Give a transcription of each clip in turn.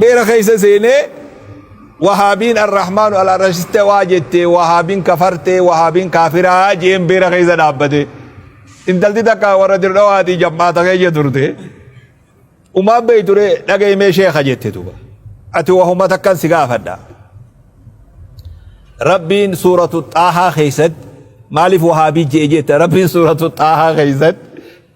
beera keessa seenee wahaabiin arrahmaanu alarashiste waa jette wahaabiin kafarte wahaabiin kaafiraa jeen beera keessa dhaabbate intalti takka warra dirdhawaatii jammaata keessa turte umaan beey ture dhagaymee sheeka jette duba ati wahuma takkan si gaafadha rabbiin suuratu xaahaa keessatti maaliif wahaabii jee jette rabbiin suuratu xaahaa keessatti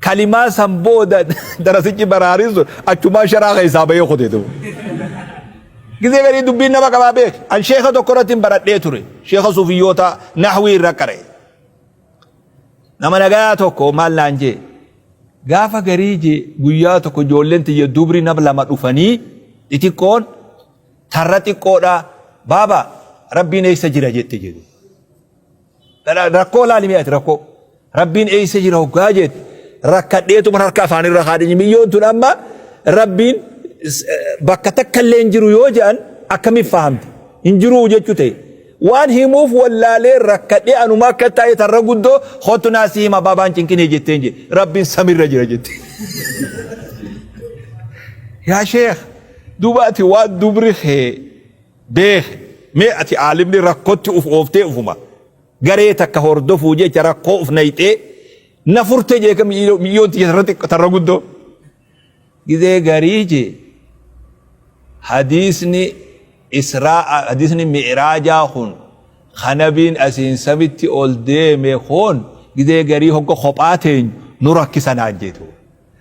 kalimaa san booda darasichi baraarin sun achumaa sharaa keessaa bahee kute ta'u. Gizee garii dubbiin nama qabaa beek. An sheeka tokko irratti hin baradhee ture. Sheeka suufiyyoota nahwii irra qare. Nama nagaa tokko maal naan jee. Gaafa garii jee guyyaa tokko ijoolleen tiyya dubri nama lama dhufanii xixiqqoon tarra xiqqoodhaa baaba rabbiin eessa jira jette jedhu. Rakkoo laali mee ati rakkoo. Rabbiin eessa jira hoggaa jeet rakkadheetuma harka afaanirra haadhiin miyyoon tun amma rabbiin bakka takka illee hin jiru yoo jedhan akkamiif fahamte hin jiruu jechuu ta'e. Waan himuuf wallaalee rakkadhee anuma akka taa'e tarra guddoo hottu naa si hima baabaan cinqinee jetteen jedhe rabbiin samirra jira jette. Yaa sheekh dubaati waan dubri kee beeke mee ati aalimni rakkotti uf ooftee ufuma garee takka hordofuu jecha rakkoo uf nayxee na furte jeeka miyyoon tiyya tarra xiqqo tarra guddoo gizee garii jee hadiisni israa hadiisni mi'raajaa kun kanabiin asiin samitti ol deeme kun gizee garii hogga kophaa teenyu nu rakkisanaan jeetu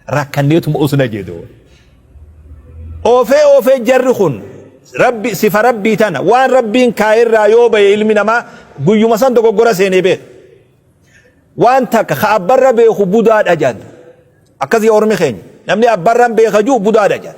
rakkanneetuma osna jedhu. Oofee oofee jarri kun rabbi sifa rabbii tana waan rabbiin kaayirraa yoo ba'e ilmi namaa guyyuma san dogoggora seenee beeku. Waan takka ka abbarra beeku budaadha jedhan. Akkasii ormi keenya namni abbarran beeka jiru budaadha jedhan.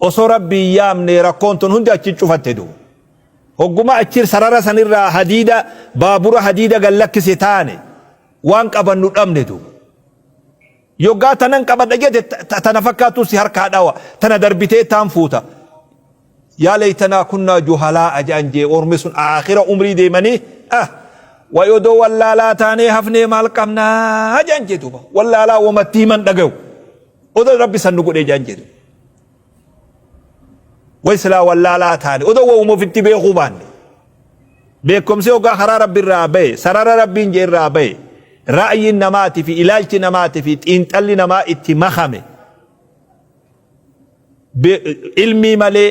Osoo Rabbi hin yaamne rakkoon tun hundi achi cufatte du. Hogguma achi sarara sanirraa hadiida baabura hadiida gad lakkise taane waan qabannu dhabne du. Yoggaa tanan qabadha jete ta- tana fakkaattu si harkaa dhawa tana darbitee taan fuuta. Yaa leeytanaa kunnaa juhalaa ajaan jee ormi sun aakhira umrii deemanii ah wayi odoo wallaalaa taanee hafnee maal qabnaa ajaan jee duuba wallaalaa wamatti himan dhagayu. Odo rabbi san nu godhee jaan jedhe. Way silaa wallaalaa taane odo wawuma ofitti beekuu baanne. Beekumsi hoggaa karaa rabbi irraa bahe sarara rabbiin jee irraa bahe ra'ayiin namaati fi ilaalchi namaati fi xiinxalli namaa itti makame. Ilmii malee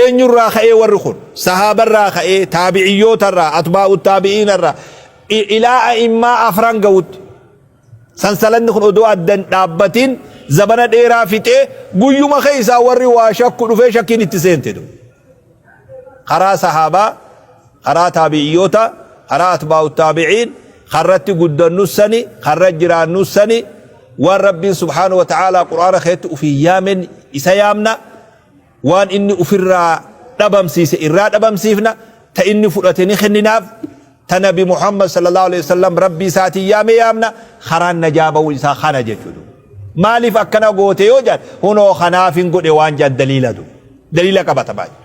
eenyurraa ka'ee warri kun sahaabarraa ka'ee taabi'iyyootarraa atbaa'u taabi'iinarraa i- ilaa a'immaa afran ga'utti sansalanni kun odoo addan dhaabbatiin zabana dheeraa fixee guyyuma keessaa warri waa shakku dhufee shakkiin itti seente du karaa sahaabaa Karaa taabi'iyyoota, karaa atbaa'u taabi'iin, ka irratti guddannus sani, ka irra jiraannus sani, waan Rabbiin subhaanahu wa ta'aalaa qur'aana keessatti ufiin yaamen isa yaamna, waan inni ufirraa dhabamsiise irraa dhabamsiifna, ta inni fudhate ni kenninaaf, ta nabi Muhammad sallallaahu aleyhi wa sallam Rabbii isaatiin yaame yaamna, karaan najaa bawuun isaa kana jechuu duuba. Maaliif akkana goote yoo jedhan, hunoo kanaafin godhe waan jedhan daliila duuba. Daliila qabatamaa jechuudha.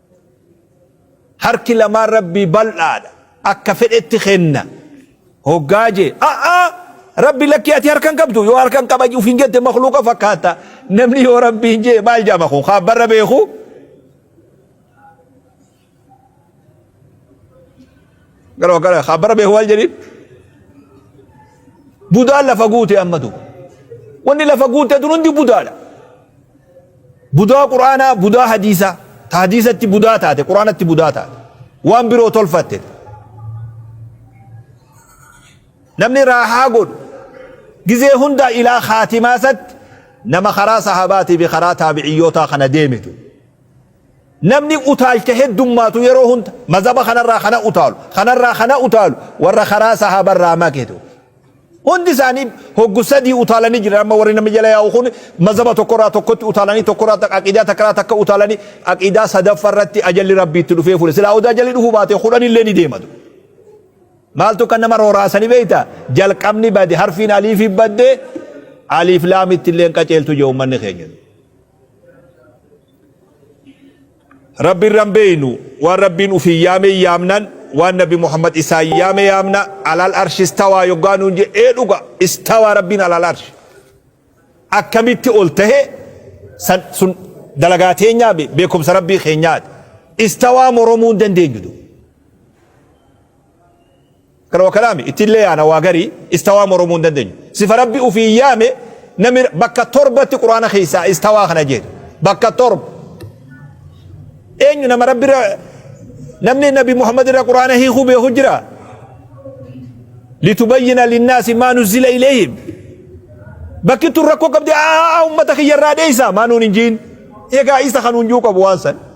Harki lamaan Rabbii bal'aadha. Akka fedhetti kenna. Hoggaa jee, a'aa! Rabbi lakkii ati harka hin qabdu, yoo harka hin qaba ufiin jette makluuqa fakkaata. Namni yoo Rabbiin jee maal jaama kun kaan barra beeku? gara wakala haa bara beeku maal jedhin budaan lafa guute amma duuba wanni lafa guute tun hundi budaadha budaa quraanaa budaa hadiisaa ta hadiisatti budaa taate quraanatti budaa taate waan biroo tolfatte namni raahaa godhu gizee hundaa ilaa khaatimaasatti nama karaa sahabaatii fi karaa taabiciyyootaa kana deemitu Namni utaalcha heddummaatu yeroo hunda mazhaba kanarraa kana utaalu, kanarraa kana utaalu warra karaa sahaabarraa make ture. Hundi isaanii hoggu sadii utaalanii jiran amma warri namni jala yaa'u kun mazhaba tokkorraa tokkotti utaalanii tokkorraa takka aqiidaa takkaraa takka utaalanii aqiidaa sadaffarratti ajalli rabbii itti dhufee fuudhe. Silaa odaa ajalli dhufuu baate kudhanillee ni deema ture. Maaltu kan nama rooraasanii beekta? Jalqabni bade harfiin aliifi badde aliif laamitti illee qaceeltu jee uummanni keenya. Rabbi irra hin beeynu waan rabbiin ufiin yaame hin yaamnan waan nabi Muhammad isaan yaame yaamna alal arshi istawaa yoggaa nuun je ee dhuga istawaa rabbiin alal arshi akkamitti ol tahe san sun dalagaa teenyaa be- beekumsa rabbii keenyaati istawaa moromuu hin dandeenyu du Kana wakalaami ittillee yaana waa garii istawaa moromuu hin dandenyu. Sifa Rabbi ufiin yaame nami bakka torbatti Qur'aana keessaa istawaa kana jeetu. Bakka torba. Eenyu nama Rabbi irra namni Nabi Muhammad irra Qur'aana hiikuu beeku jira? Litubayyina linnaasi maa nuzzila ilayhim. Bakki tun rakkoo qabdi aa ummata kiyya irraa dheeysaa maa nuun hin jiin. Egaa isa kan hunjuu qabu waan san.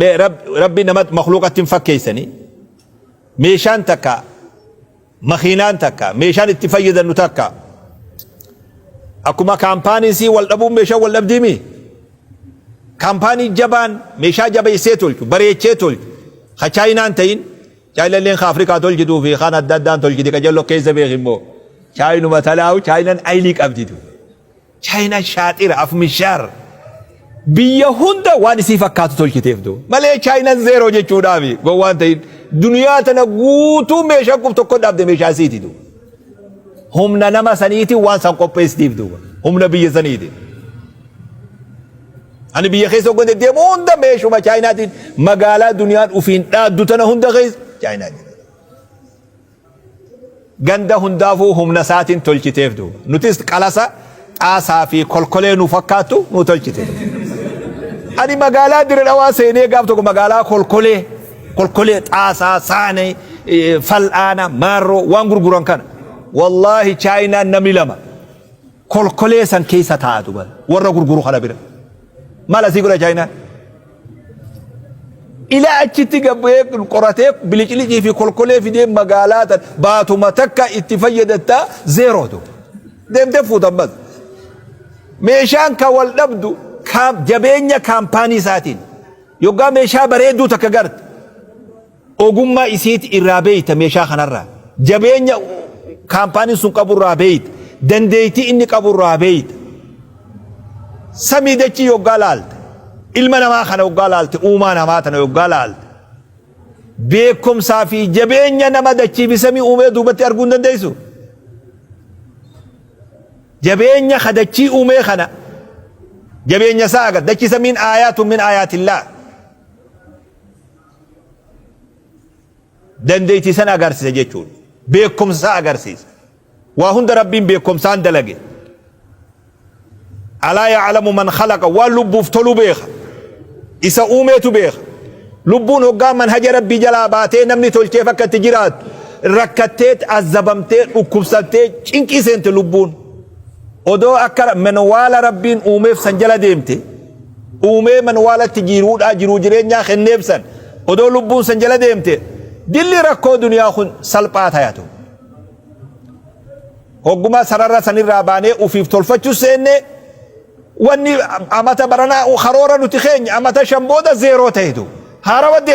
Mee Rab- rabbi nama makluuqatti hin fakkeessani meeshaan takka makiinaan takka meeshaan itti fayyadamnu takka akkuma kaampaaniin sii wal dhabuun meeshaan wal dhabdiimi kaampaanii jabaan meeshaa jabeessee tolchu bareechee tolchu ka chaayinaan ta'in chaayinalleen ka afrikaa tolchituu fi kaan adda addaan tolchiti ka jallo keessa beeku immoo chaayinuma talaahu chaayinan ayinii qabditu Chaayinaan shaaxira afmishaar biyya hunda waan isii fakkaatu tolchiteef doo. Malee Chaayinaan zeeroo jechuudhaaf gowwaan ta'in duniyaa tana guutuu meeshaa qub tokko dhaabde meeshaa isiiti doo. Humna nama saniiti waan san qopheessitiif duuba. Humna biyya saniiti. Ani biyya keessa hoggan deddeemu hunda meeshuma Chaayinaatiin magaalaa duniyaan ufiin dhaaddu tana hunda keessa Chaayinaa jira. ganda hundaafuu humna isaatiin tolchiteef duuba. Nutis qalasa xaasaa fi kolkolee nu fakkaattu nu tolchite. Ani magaalaa Dire Dhawaa seenee gaaf tokko magaalaa kolkolee kolkolee xaasaa saanee fal'aana maarroo waan gurguran kana. Wallaahi chaayinaan namni lama. kolkolee san keessa taa'a duba warra gurguru kana bira maal asii godha chaayinaan ilaa achitti gabbee qoratee biliqilicii fi kolkolee fidee magaalaa tan baatuma takka itti fayyadataa zeeroo duba deemtee fuutan bas meeshaan ka wal dhabdu kaam- jabeenya kaampaanii isaatiin yoggaa meeshaa bareedduu takka garte Ogummaa isiiti irraa beeyta meeshaa kanarraa. Jabeenya kaampaaniin sun qabu irraa beeyta. Dandeeytii inni qabu irraa beeyta. Samii dachii yoggaa laalte, ilma namaa kana yoggaa laalte, uumaa namaa tana yoggaa laalte, beekumsaa fi jabeenya nama dachii fi samii uumee duubatti arguu hin dandeeysu? Jabeenya ka dachii uumee kana jabeenya isaa agarta. Dachii samiin aayaatun min aayaatillaa. dandeettii san agarsiisa jechuudha. Beekumsa isaa agarsiisa. Waa hunda rabbiin beekumsaan dalage. Alaa ya'alamu man khalaqa waan lubbuuf tolu beeka. Isa uumeetu beeka. Lubbuun hoggaa manhaja rabbii jalaa baatee namni tolcheef akka itti jiraattu rakkattee azabamtee dhukkubsattee cinqii seente lubbuun. Odoo akka manwaala rabbiin uumeef san jala deemte uumee manwaalatti jiiruudhaa jiruu jireenyaa kenneef san odoo lubbuun san jala deemte dilli rakkoo duniyaa kun salphaa tayatu. Hoggumaa sarara sanirraa baanee ufiif tolfachuu seenne wanni amata baranaa karoora nuti keenya amata shan booda zeeroo tahetu. Haarawa deebi